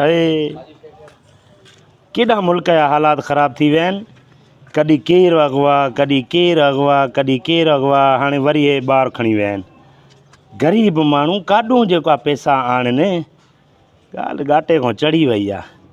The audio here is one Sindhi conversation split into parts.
اڙي ڪيڏا ملڪ جا حالات خراب ٿي ويا آهن ڪڏي ڪير اغوا ڪڏي ڪير اغوا ڪڏي ڪير اغوا هاڻي وري هي ٻار کڻي ويا آهن غريب ماڻهو ڪاڏون جيڪا پيسا آڻن ڳالهه ڳاٽي کان چڙهي وئي آهي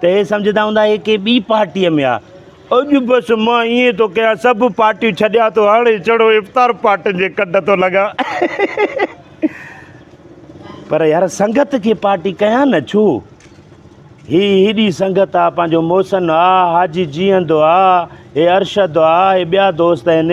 ته هي سمجهندا هوندا هي ڪنهن ٻي پارٽيء ۾ آ. اڄ بس مان ائين ٿو ڪيان سڀ پارٽيون ڇڏيان ٿو هاڻي چڙو افطار پارٽين جي ڪنڊ ٿو لڳان. پر يار سنگت کي پارٽي ڪيان نه ڇو؟ هي هيڏي سنگت آ پنهنجو محسن آ حاجي جيئندو آ هي ارشد آ هي ٻيا دوست آهن.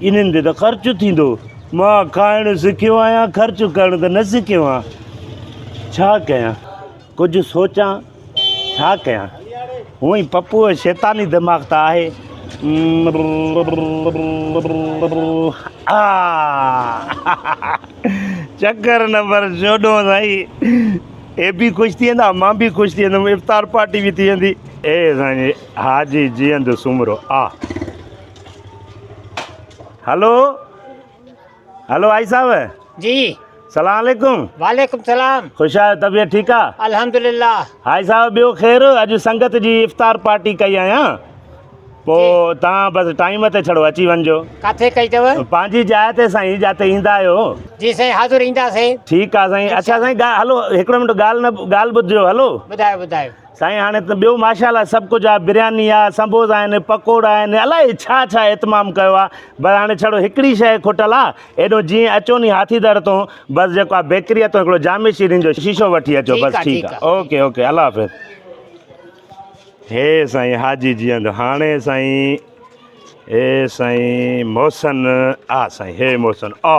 انهن تي ته خرچ ٿيندو. مان کائڻ سکيو آهيان، خرچ ڪرڻ ته نه سکيو آهيان. ڇا ڪيان؟ ڪجهه سوچان، ڇا ڪيان؟ هونء ئي پپوء جو شيطاني دماغ ته آهي. چڪر نه پر چوڏهون سائين. هي به خوش ٿي ويندا، مان به خوش ٿي ويندم، افطار پارٽي به ٿي ويندي. اي سائين، حاجي جيئندو سومرو آ. هلو هلو آئي صاحب جي سلام عليڪم وعليڪم سلام خوش آهيو طبيعت ٺيڪ آ الحمدلله هائي صاحب ٻيو خير اڄ سنگت جي افطار پارٽي ڪئي آهيان پو تان بس ٽائيم تي ڇڙو اچي وڃجو ڪاٿي ڪئي تو پنهنجي جاء تي سائين جاته ايندا آهيو جي سائين حاضر ايندا سي ٺيڪ آ سائين اچا سائين هلو هڪڙو منٽ ڳال نه ڳال ٻڌجو هلو ٻڌايو ٻڌايو سائين هاڻي ته ٻيو ماشاءالله سڀ ڪجهه آهي برياني آهي سنبوسا آهن پڪوڙا آهن الاء ڇا ڇا اهتمام ڪيو آهي بس هاڻي ڇڙو هڪڙي شيء کٽل آهي ايڏو جيئن اچو ني هاٿي در تون بس جيڪو آهي بيڪريء تون هڪڙو جامي شيرين جو شيشو وٺي اچو بس ٺيڪ آهي اوڪي اوڪي الله حافظ هي سائين حاجي جيئند هاڻي سائين هي سائين محسن آ سائين هي محسن آ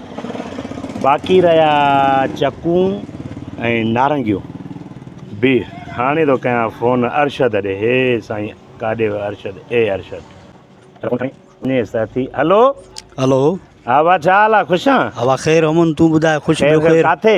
باقي رهيا چڪون ۽ نارنگيون بي هاڻي ٿو ڪيان فون ارشد ڏي هي سائين ڪاڏي ويو ارشد اي ارشد ني ساٿي هلو هلو ها وا ڇا حال آ خوش آ ها وا خير امن تون ٻڌاء خوش خير خير ڪاٿي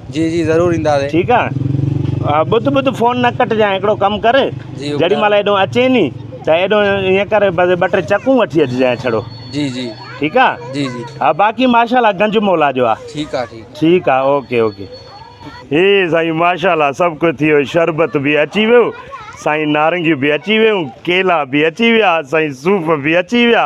جي جي ضرور اينداسين. ٺيڪ آ ٻڌ ٻڌ فون نه ڪٽجانء هڪڙو ڪم ڪر جيڏي مهل هيڏو اچين ني ته هيڏو ائين ڪر بس ٻه ٽي چڪون وٺي اچجانء ڇڙو جي جي ٺيڪ آ جي جي ها باقي ماشاءالله گنج مولا جو آ ٺيڪ آ ٺيڪ ٺيڪ آ اوڪي اوڪي. هي سائين ماشاءالله سڀ ڪجھ ٿي ويو شربت به اچي ويو سائين نارنگيون به اچي ويون ڪيلا به اچي ويا سائين صوف به اچي ويا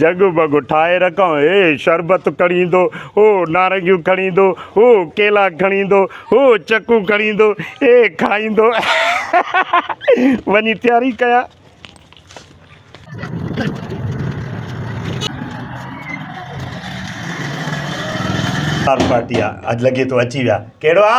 جڳ وڳ ٺاهي رکان هي شربت کڻي ايندو هو نارنگيون کڻي ايندو هو ڪيلا کڻي ايندو هو چڪون کڻي ايندو هي کائيندو وڃي تياري ڪيا پارٽي آ اڄ لڳي ٿو اچي ويا ڪهڙو آ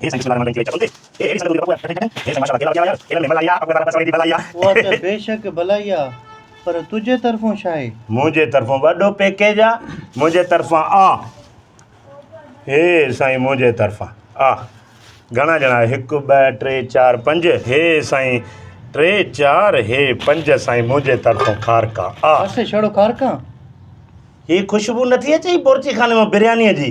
اها ته بيشڪ ڀلائي آ، پر تنهنجي طرفون ڇاهي؟ منهنجي طرفون وڏو پيڪيج آ، منهنجي طرفان آ. هي سائين منهنجي طرفان آ. گهڻا ڄڻا هڪ ٻه ٽي چار پنج هي سائين ٽي چار هي پنج سائين منهنجي طرفون کارڪا آ. بس ڇڙو کارڪان. هي خوشبو نٿي اچئي بورچي خاني مان بريانيء جي.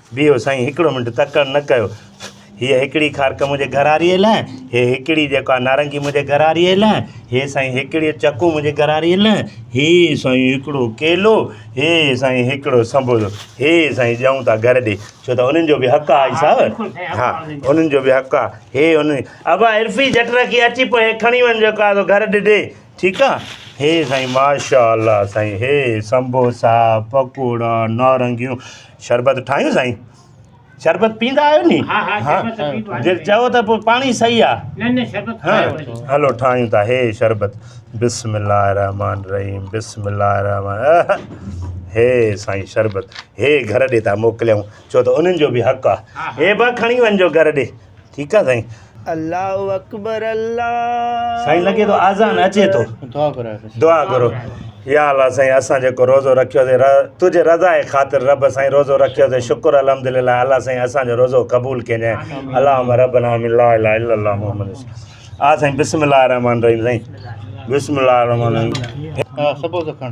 بيهو سائين هڪڙو منٽ تڪڙ نه ڪيو هيء هيڪڙي کارڪ منهنجي گهراريء لاء هي هيڪڙي جيڪو آ نارنگي منهنجي گهراريء لاء هي سائين هيڪڙي چڪو منهنجي گهراريء لاء هي سائين هيڪڙو ڪيلو هي سائين هيڪڙو سنبولو هي سائين ڄائون ٿا گهر ڏي ڇو ته انهن جو به حق آ صاحب ها انهن جو به حق آ هي ان ابا عرفي جٽ رکي اچي پو هي کڻي وڃ جيڪو آ سو گهر ڏي ڏي ٺيڪ آ هي سائين ماشاء الله سائين هي سنبوسا پڪوڙا نارنگيون شربت ٺاهيون سائين؟ شربت پيئندا آهيو ني؟ ها ها شربت ته پيئبو آهي. جي چئو ته پوء پاڻي صحيح آ. نه نه شربت ٺاهيو وڃي. هلو ٺاهيون ٿا هي شربت بسم الله الرحمٰن الرحيم بسم الله الرحمٰن اهه هي سائين شربت هي گهر ڏي ٿا موڪليون ڇو ته انهن جو به حق آ هي به کڻي وڃجو گهر ڏي. ٺيڪ آ سائين. الله اڪبر الله سائين لڳي ٿو آذان اچي ٿو دعا ڪرايو دعا ڪرو يا الله سائين اسان جيڪو روزو رکيو سي تجھي رضا جي خاطر رب سائين روزو رکيو سي شڪر الحمدلله الله سائين اسان جو روزو قبول ڪينجي اللهم ربنا من لا اله الا الله محمد آ سائين بسم الله الرحمن الرحيم سائين بسم الله الرحمن الرحيم سبو سکڻ